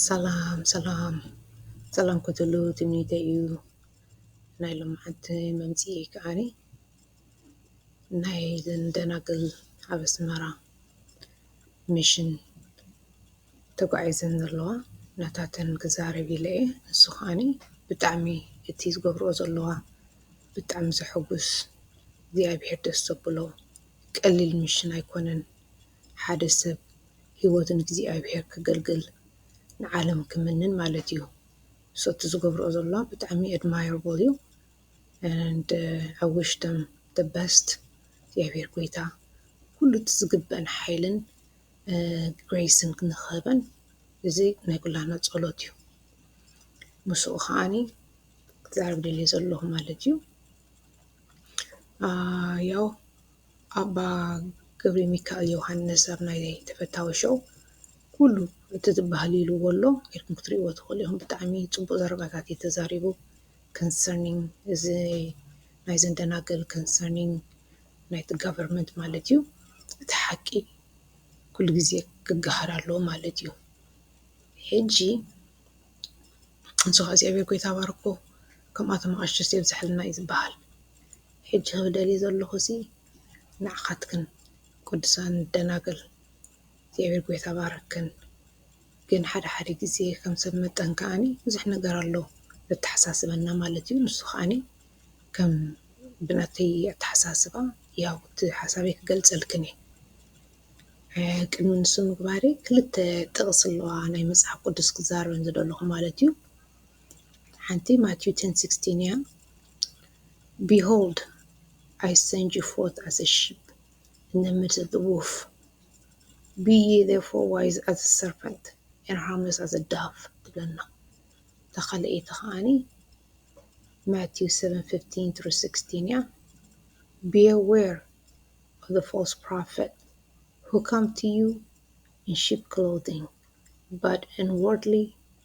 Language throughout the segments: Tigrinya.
ሰላም ሰላም ሰላም ክትህሉ ትምኒተይ እዩ ናይ ሎምዓንቲ መምፂኢ ከዓኒ ናይ እዘን ደናግል ኣብ ኣስመራ ሚሽን ተጓዒዘን ዘለዋ ናታተን ክዛረብ ኢለ እየ ንሱ ከዓኒ ብጣዕሚ እቲ ዝገብርኦ ዘለዋ ብጣዕሚ ዘሐጉስ እግዚኣብሔር ደስ ዘብሎ ቀሊል ሚሽን ኣይኮነን። ሓደ ሰብ ሂወቱ ንእግዚኣብሄር ከገልግል ንዓለም ክምንን ማለት እዩ so እቲ ዝገብርኦ ዘሎ ብጣዕሚ admirable እዩ and i wish them the best እግዚኣብሄር ጎይታ ኩሉ እቲ ዝግበኣን ሓይልን grace ን ንክህበን እዚ ናይ ኩላትና ጸሎት እዩ ምስኡ ከኣኒ ክዛረብ ደልየ ዘለኩ ማለት እዩ ያው ኣባ ገብሪሚካኤል ዮውሃንስ ኣብ ናይ ተፈታዊ ሾው ኩሉ እቲ ዝባሃል ኢልዎ ኣሎ ኢልኩም ክትሪእዎ ትክእሉ ኢኩም ብጣዕሚ ጽቡቅ ዘረባታት እዩ ተዛሪቡ concerning እዚ ናይዘን ደናግል concerning ናይቲ government ማለት እዩ እቲ ሓቂ ኩሉ ግዜ ክጋሃር ኣለዎ ማለት እዩ ሕጂ ንሱ ከኣ እግዚኣብሔር ጎይታ ባርኮ ከምኣቶም ኣቅሽሽቲ የብዝሓልና እዩ ዝባሃል። ሕጂ ክደሊ ዘለኹሲ ንዓኻትክን ቅዱሳን ደናግል እግዚኣብሔር ጎይታ ባረክክን ግን ሓደ ሓደ ግዜ ከም ሰብ መጠን ከኣኒ ብዙሕ ነገር ኣሎ ዘተሓሳስበና ማለት እዩ ንሱ ከኣኒ ከም ብናተይ ኣተሓሳስባ ያው እቲ ሓሳበይ ክገልጸልክን እየ ቅድሚ ንሱ ምግባረይ ክልተ ጥቕሲ ኣለዋ ናይ መጽሓፍ ቅዱስ ክዛረበን ዝደለኹ ማለት እዩ። ሓንቲ ማቲው ተን ሲክስቲን እያ ቢሆልድ ኣይ ሰንድ ዩ ፎርት ኣዘ ሺፕ ኢን ዘ ሚድል ኦፍ ዘ ዎልፍ ቢ የ ዜርፎር ዋይዝ ኣዘ ሰርፐንት ኤንድ ሃርምለስ ኣዘ ዳቭ ትብለና እታ ካልኣይቲ ከዓኒ ማቲው ሰቨን ፊፍቲን ትሩ ሲክስቲን እያ ቢ ኣዌር ኦፍ ዘ ፎልስ ፕሮፌት who come to you in sheep clothing, but inwardly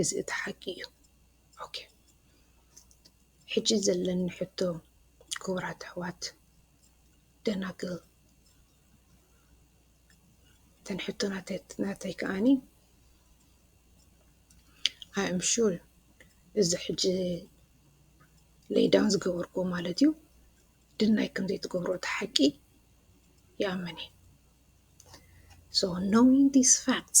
እዚ እቲ ሓቂ እዩ ኦኬ ሕጂ ዘለኒ ሕቶ ክቡራት ኣሕዋት ደናግል እተን ሕቶ ናተይ ከዓኒ ኣይም ሹር እዚ ሕጂ ለይዳውን ዝገበርኩ ማለት እዩ ድናይ ከም ዘይትገብሮ እቲ ሓቂ ይኣምን እዩ So knowing these facts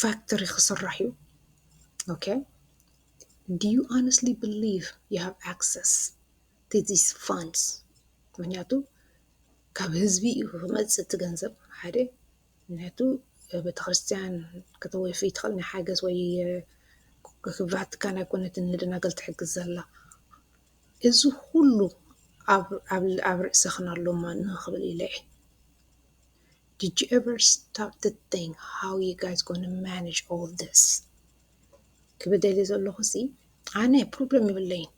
ፋክትሪ ክስራሕ እዩ ኦከ ዲዩ ኣነስሊ ብሊቭ ዩ ሃቭ ኣክሰስ ቱ ዚስ ፋንድስ ምክንያቱ ካብ ህዝቢ እዩ ክመፅእ እቲ ገንዘብ ሓደ ምክንያቱ ቤተክርስትያን ከተወፊ ትክእል ናይ ሓገዝ ወይ ቫቲካን ኣይኮነትን ንደናግል ትሕግዝ ዘላ እዚ ኩሉ ኣብ ርእስክን ኣሎ እሞ ንክብል ኢለ እየ። Did you ever stop to think how you guys gonna manage all this? ክብደልየ ዘለኹሲ ኣነ ፕሮብለም ይብለይን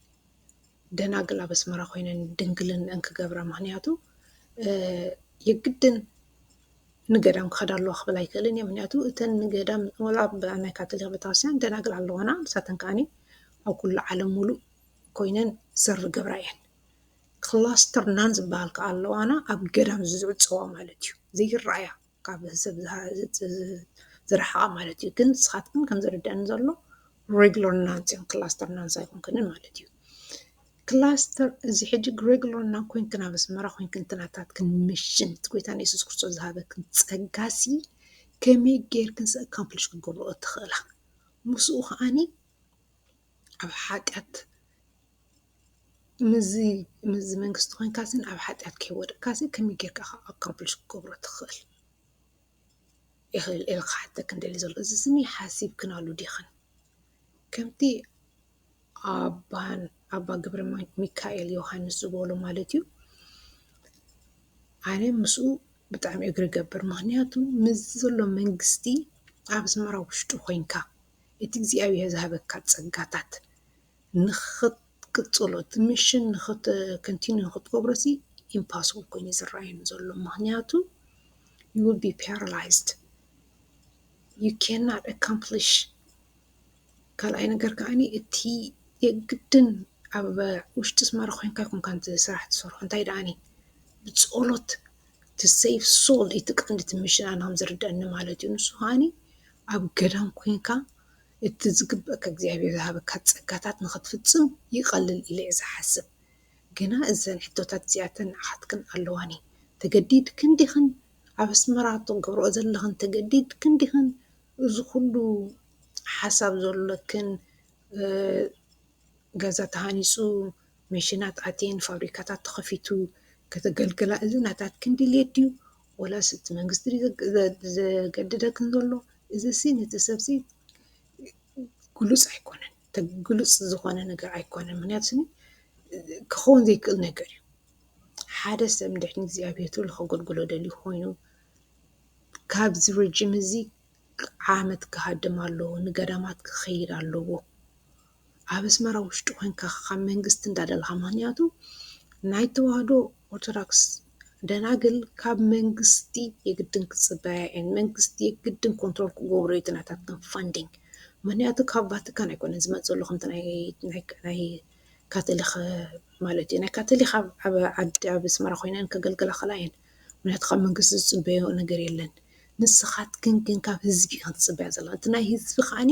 ደናግል ኣብ ኣስመራ ኮይነን ድንግልንአን ክገብራ ምክንያቱ የግድን ንገዳም ክኸዳ ኣለዋ ክብል ኣይክእልን እየ ምክንያቱ እተን ንገዳም ወላ ናይ ካቶሊክ ቤተክርስትያን ደናግል ኣለዋና ንሳተን ከዓኒ ኣብ ኩሉ ዓለም ሙሉእ ኮይነን ዝገብራ እየን ክላስተር ናን ዝበሃል ክዓ ኣሎ ዋና ኣብ ገዳም ዝዕፀዋ ማለት እዩ። ዘይረኣያ ካብ ሰብ ዝረሓቃ ማለት እዩ። ግን ንስካትክን ከም ዝርደኣኒ ዘሎ ሬጉላር ናንስ እየን ክላስተር ናንስ ኣይኮንክንን ማለት እዩ። ክላስተር እዚ ሕጂ ሬጉላር ናን ኮይንክን ኣብ ኣስመራ ኮይንክን እቲ ናታትክን ሚሽን እቲ ጎይታ የሱስ ክርስቶስ ዝሃበክን ጸጋሲ ከመይ ጌርክንስ ኣካምፕሊሽ ክትገብርኦ ትኽእላ? ምስኡ ከዓኒ ኣብ ሓጢኣት ምስዚ ምስዚ መንግስቲ ኮይንካሲ ኣብ ሓጥያት ከይወደቅካሲ ከመይ ጌርካ ኢኻ ኣካምፕሊሽ ክትገብሮ ትኽእል? ኢኽእል ኢለ ክሓተክን ደልየ ዘለኹ። እዚ ስኒ ሓሲብክናሉ ዲኽን? ከምቲ ኣባን ኣባ ገብረሚካኤል ዮሃንስ ዝበሎ ማለት እዩ፣ ኣነ ምስኡ ብጣዕሚ እግሪ እገብር። ምኽንያቱ ምስዚ ዘሎ መንግስቲ ኣብ ኣስመራ ውሽጢ ኮይንካ እቲ እግዚኣብሄር ዝሃበካ ጸጋታት፣ ንክትቅፅሎ እቲ ሚሽን ከንቲኒው ንክትገብሮ እዚ ኢምፓስብል ኮይኑ እዩ ዝረኣየኒ ዘሎ ምክንያቱ ዩ ዊል ቢ ፓራላይዝድ ዩ ካንኖት ኣካምፕሊሽ ካልኣይ ነገር ከዓ እቲ የግድን ኣብ ውሽጢ ኣስመራ ኮይንካ ኣይኮንካ ነቲ ስራሕ እትሰርሖ እንታይ ደኣኒ ብፆሎት ቱ ሰቭ ሶል እዩ እቲ ቀንዲ እቲ ሚሽን ኣነ ከም ዝርደኣኒ ማለት እዩ ንሱ ከዓኒ ኣብ ገዳም ኮይንካ እቲ ዝግበእካ እግዚኣብሔር ዝሃበካ ጸጋታት ንኽትፍጽም ይቐልል ኢለ'የ ዝሓስብ። ግና እዘን ሕቶታት እዚኣተን ንዓኻትክን ኣለዋኒ፣ ተገዲድክን ዲኽን? ኣብ ኣስመራ ትገብርኦ ዘለኽን ተገዲድክን ዲኽን? እዚ ኩሉ ሓሳብ ዘሎክን ገዛ ተሃኒጹ፣ መሽናት ኣትየን፣ ፋብሪካታት ተኸፊቱ ከተገልግላ እዚ ናታትክን ድልየት ድዩ ወላስ እቲ መንግስቲ ድዩ ዘገድደክን ዘሎ? እዚሲ ነቲ ሰብ'ሲ ግሉጽ ኣይኮነን ግሉጽ ዝኾነ ነገር ኣይኮነን ምኽንያቱ ስኒ ክኸውን ዘይክእል ነገር እዩ። ሓደ ሰብ እንድሕር ንእግዚኣብሄር ተሎ ከገልግሎ ደልዩ ኮይኑ ካብዚ ረጅም እዚ ዓመት ክሃድም ኣለዎ ንገዳማት ክኸይድ ኣለዎ። ኣብ ኣስመራ ውሽጢ ኮንካ ካብ መንግስቲ እንዳደለካ ምክንያቱ ናይ ተዋህዶ ኦርቶዳክስ ደናግል ካብ መንግስቲ የግድን ክጽበያ እየን መንግስቲ የግድን ኮንትሮል ክገብሮ እዩ እቲ ናታተን ፋንዲንግ ምክንያቱ ካብ ቫቲካን ኣይኮነን ዝመጽእ ዘሎ ከምቲ ናይ ካተሊክ ማለት እዩ ናይ ካተሊክ ኣብ ዓዲ ኣብ ኣስመራ ኮይነን ከገልግላ ይክእላ እየን ምክንያቱ ካብ መንግስቲ ዝጽበዮ ነገር የለን ንስካትክን ግን ካብ ህዝቢ ኢክን ትጽበያ ዘለክን እቲ ናይ ህዝቢ ከዓኒ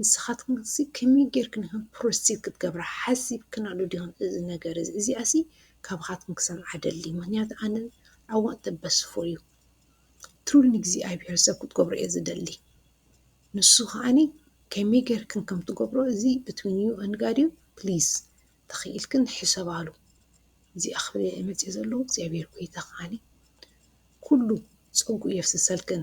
ንስኻትክንሲ ከመይ ጌርክን ኢኽን ፕሮሲት ክትገብራ ሓሲብክናሉ ዲኽን እዚ ነገር እዚ እዚኣሲ ካብኻትክን ክሰምዓ እደሊ ምኽንያቱ ኣነ I want the best for you ትሩሊ ንእግዚኣብሄር ሰብ ክትገብሮ እየ ዝደሊ ንሱ ከዓኒ ከመይ ጌርክን ከም ትገብሮ እዚ between you and God እዩ please ተኽኢልክን ሕሰባሉ እዚኣ ክብል እየ መፅየ ዘለኹ እግዚኣብሄር ጎይታ ከዓኒ ኩሉ ፀጉኡ የፍስሰልክን